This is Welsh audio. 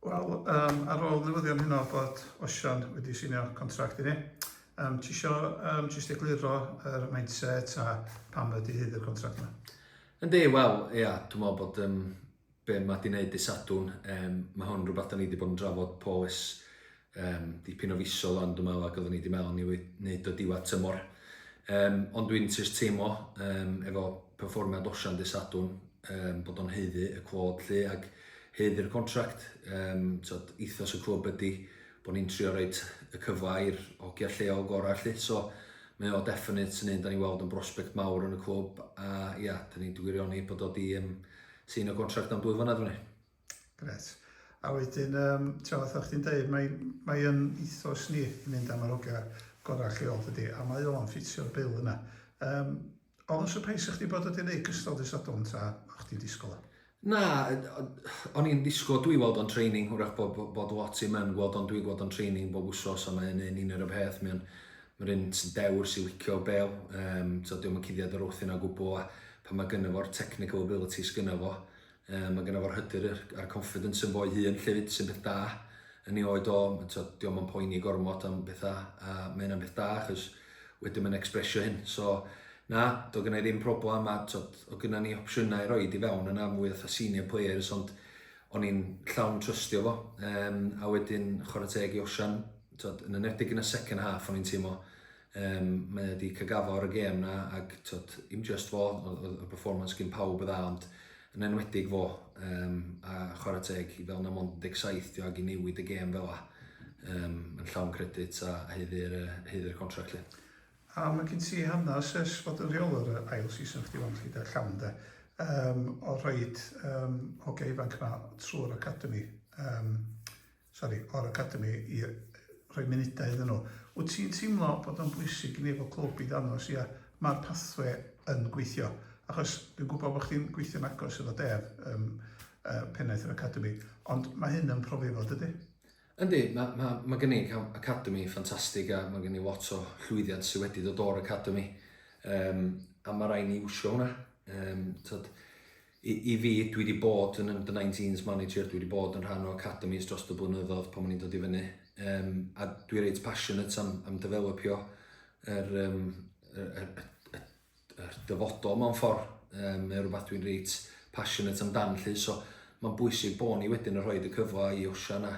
Wel, um, ar ôl newyddion hynno bod Osian wedi sinio contract i ni, um, ti isio um, jyst egluro yr er mindset a pam ydy hyd y contract yma? Yndi, wel, ia, dwi'n meddwl bod um, be mae di wneud i Sadwn, um, mae hwn rhywbeth da ni wedi bod yn drafod poes Yym, dipyn o fisoedd ond dwi'n meddwl a gydden ni di mewn i wneud o diwedd tymor. Um, ond dwi'n just teimlo um, efo perfformiad Osian dy Sadwn um, bod o'n heiddi y cwod llu ac heiddi'r contract. Um, tod, ethos y clwb ydy bod ni'n trio rhoi y cyfle i'r hogia lleol gorau llu. So, mae o definite yn un da ni weld yn brosbect mawr yn y clwb a ia, da ni'n gwirioni bod o di um, sy'n y contract am dwy flynedd fan ni. Gret. A wedyn, um, tra fatha chdi'n dweud, mae, mae yn ethos ni i fynd am yr hogia gorau lleol dydy, a mae o'n ffitio'r bil yna. Um, oedd yn surprise chdi bod wedi gwneud gystal dy sadwn ta o'ch ti'n disgwyl o? Na, o'n i'n disgwyl, dwi weld o'n training, hwrach bod, bod, bod lot i mewn gweld o'n dwi gweld o'n training bob wsos a mae'n un un yr y peth, mae'n Mae'r un sy'n dewr sy'n licio bel, um, so diolch yn cuddiad yr wrth yna gwbl, a pan mae gynnu fo'r technical abilities gynnu fo, Yy ma' gynno fo'r hyder yy a'r confidence ynddo fo'i hun 'llyfyd sy'n beth da yn ei oed o ma' t'od 'di o'm yn poeni gormod am betha a ma' hynna'n beth da achos wedyn ma'n expresio hyn so na do' gynnai ddim problam a t'od o' gynna ni opsiynau i roid i fewn yna mwy fatha senior players ond o'n i'n llawn trystio fo yym a wedyn chwara teg i Osian t'od yn enedig yn y second half o'n i'n teimlo Yym mae o 'di ca'l gaddo ar y gêm 'na ag t'od dim jyst fo o- odd y performance gin pawb yn dda ond yn enwedig fo yym a chwara teg i fel 'na mond un deg saith 'di o ag i newid y gêm fel 'a yym yn llawn credit a haeddu yr yy haeddu y contract 'lly. A ma' gin ti hanas ers fod yn rheolwr yy ail season chdi 'wan 'lly 'de llawn 'de yym o rhoid yym hogia ifanc 'ma trw'r academi yym sori, o'r Academi i rhoi munudau iddyn nhw. Wyt ti'n teimlo bod o'n bwysig i ni efo clwb i ddangos, ia, mae'r pathwe yn gweithio? Achos dwi'n gwybod bod chdi'n gweithio'n agos efo Dev, um, uh, pennaeth yr Academi, ond mae hyn yn profi fod ydy? Yndi, mae, ma, ma gen i Academi ffantastig a mae gen i lot o llwyddiant sydd wedi dod o'r Academi. Um, a mae rhaid ni wsio hwnna. Um, tyd, I, i fi, dwi wedi bod yn under 19s manager, dwi wedi bod yn rhan o academis dros y blynyddoedd pan o'n i'n dod i fyny. Um, a dwi reit passionate am, am developio yr, um, yr, yr, yr, yr, yr dyfodol mewn ffordd. Um, mae rhywbeth dwi'n reit passionate amdan lly. So mae'n bwysig bod ni wedyn yn rhoi y cyfle i Osian a